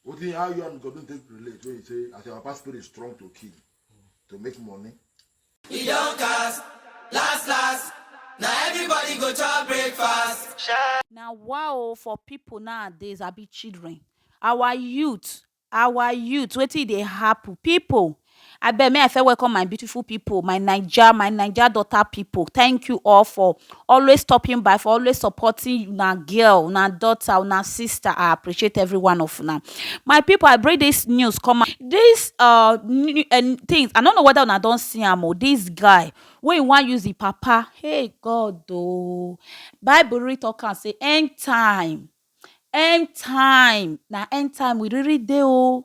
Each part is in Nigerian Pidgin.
Wetin how you and Godwin take relate when you say as your papa spirit strong to kill to make money? E don cast, last last, na everybody go chop breakfast. na wa o for people nowadays abi children our youth our youth wetin e dey happen people Abeg me I first welcome my beautiful people my naija my naija daughter people thank you all for always stopping by for always supporting una girl una daughter una sister I appreciate every one of una my people I bring this news come out this uh thing I no know whether una don see am oo this guy wey he wan use him papa hey God oo bible really talk am say end time end time na end time we really dey oo.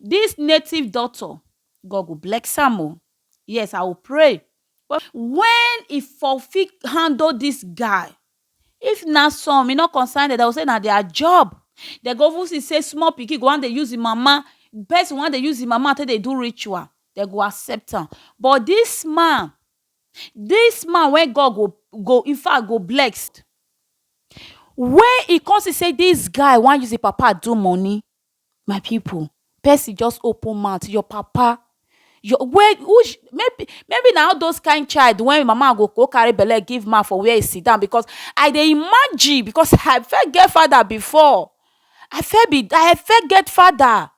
This native doctor, God go bless am o. Yes, I will pray. But when e for fit handle this guy, if na some, e no concern them, they will say na their job. They go even see say small pikin go wan dey use im mama, person wan dey use im mama take dey do ritual, they go accept am. But this man, this man wey God go go in fact go bless, when e come see say this guy wan use im papa do money, My people person just open mouth your papa your wey which maybe maybe na all those kind child wey him mama go go carry belle give man for where he sit down because I dey imagine because I first get father before I first be I first get father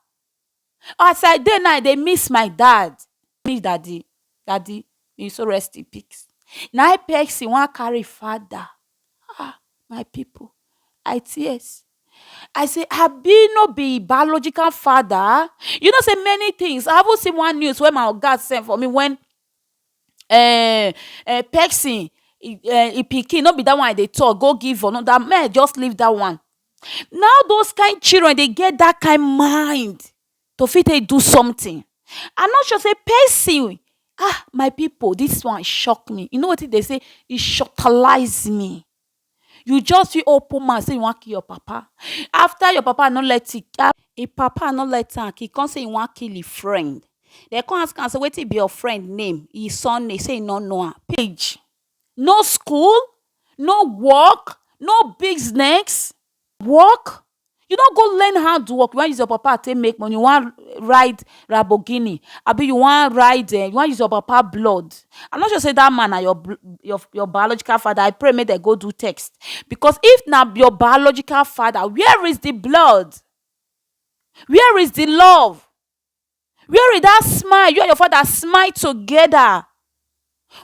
as I dey now I dey miss my dad me daddy daddy may you so rest in peace na him person wan carry father Ah, my pipu, I tears. I sey abi no be im biological father? You know sey many tins, I even see one news wey my oga send for me wen um pesin um im pikin, no be dat one I dey tok, go give anoda. Make I just leave dat one. Na all dose kain children dey get dat kain mind. to fit take do something I no sure sey person um my people this one shock me you know wetin dem sey e shocktalize me you just fit open mouth sey you wan kill your papa after your papa no let you um him papa no let am kill come sey e wan kill him friend dem come ask am sey wetin be your friend name him surname sey e no know am page no school no work no business. work? You no go learn hand work, you wan use your papa take make money, you wan ride lamborghini abi you wan ride um you wan use your papa blood, I no sure sey dat man na your your your biological father, I pray make dem go do test because if na your biological father where is de blood, where is de love. Where is that smile you and your father smile together?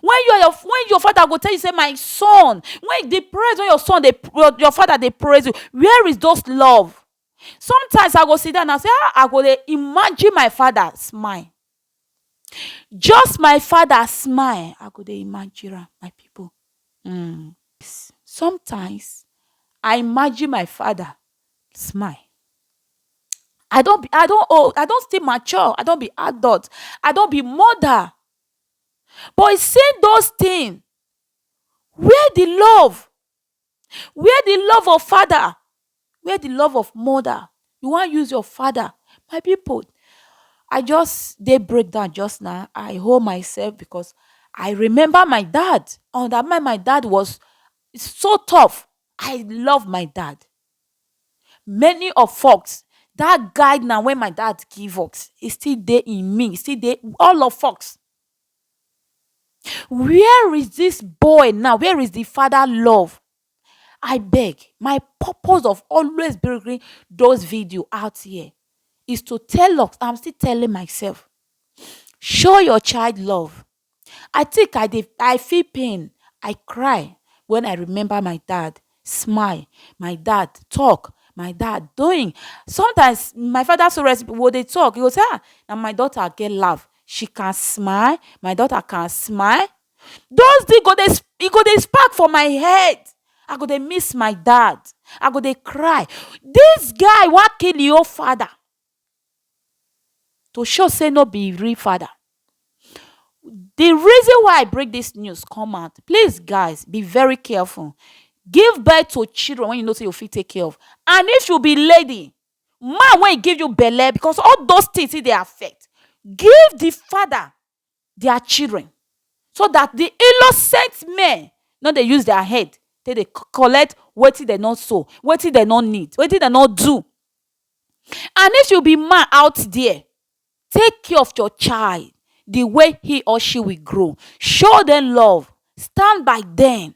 When you and your when your father go tell you say my son, when the praise when your son dey your, your father dey praise you, where is those love? Sometimes I go sit down and say ah I go dey imagine my father smile, just my father smile I go dey imagine am my people um sometimes I imagine my father smile. I don be I don old I don still mature I don be adult I don be mother but e say those thing where the love where the love of father where the love of mother you wan use your father my people I just dey break down just now I hold myself because I remember my dad and my dad was so tough I love my dad many of fox dat guide na wen my dad give us e still dey in me e still dey all of us. Where is dis boy now where is de father love abeg my purpose of always bringing those videos out here is to tell us and am still telling myself show your child love. I think I dey I feel pain, I cry when I remember my dad smile, my dad talk, my dad doing. Sometimes my father so we go dey talk, he go say um na my daughter get laugh, she can smile, my daughter can smile. Those things go dey e go dey spark for my head, I go dey miss my dad, I go dey cry. Dis guy wan kill im own father. to show sey no be real father. The reason why I bring dis news come out, please guys be very careful, give birth to children wey you know sey you fit take care of and if you be lady, man wey give you belle because all those things still dey affect, give the father dia children so dat di innocent men no dey use dia head take dey collect wetin dem no sow, wetin dem no need, wetin dem no do. And if you be man out there, take care of your child di way he or she will grow, show dem love, stand by dem.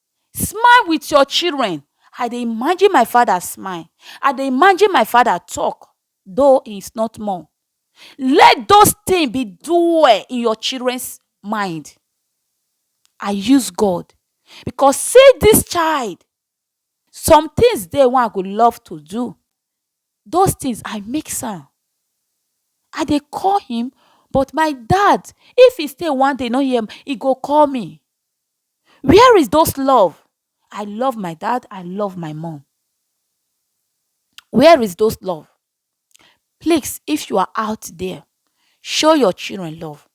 Smile with your children, I dey imagine my father smile, I dey imagine my father talk though he is not more. Let those things be dwell in your children's mind. I use God because see this child, some things dey wey I go love to do those things I make am I dey call him but my dad if he stay one day no hear he go call me where is those love I love my dad I love my mom where is those love please if you are out there show your children love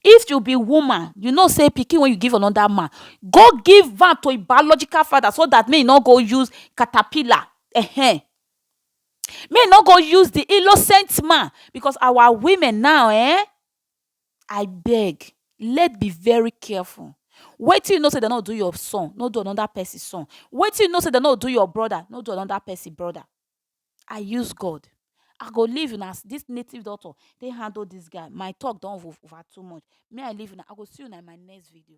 if you be woman you know say pikin wey you give another man go give am to him biological father so that make he no go use caterpillar ehen Make e no go use di innocent man because our women now ehn, I beg let be very careful wetin you know sey dem no do your son no do anoda pesin son, wetin you know sey dem no do your broda no do anoda pesin broda, I use God I go leave una as dis native doctor take handle dis guy my talk don over too much me I leave una I go see una in my next video.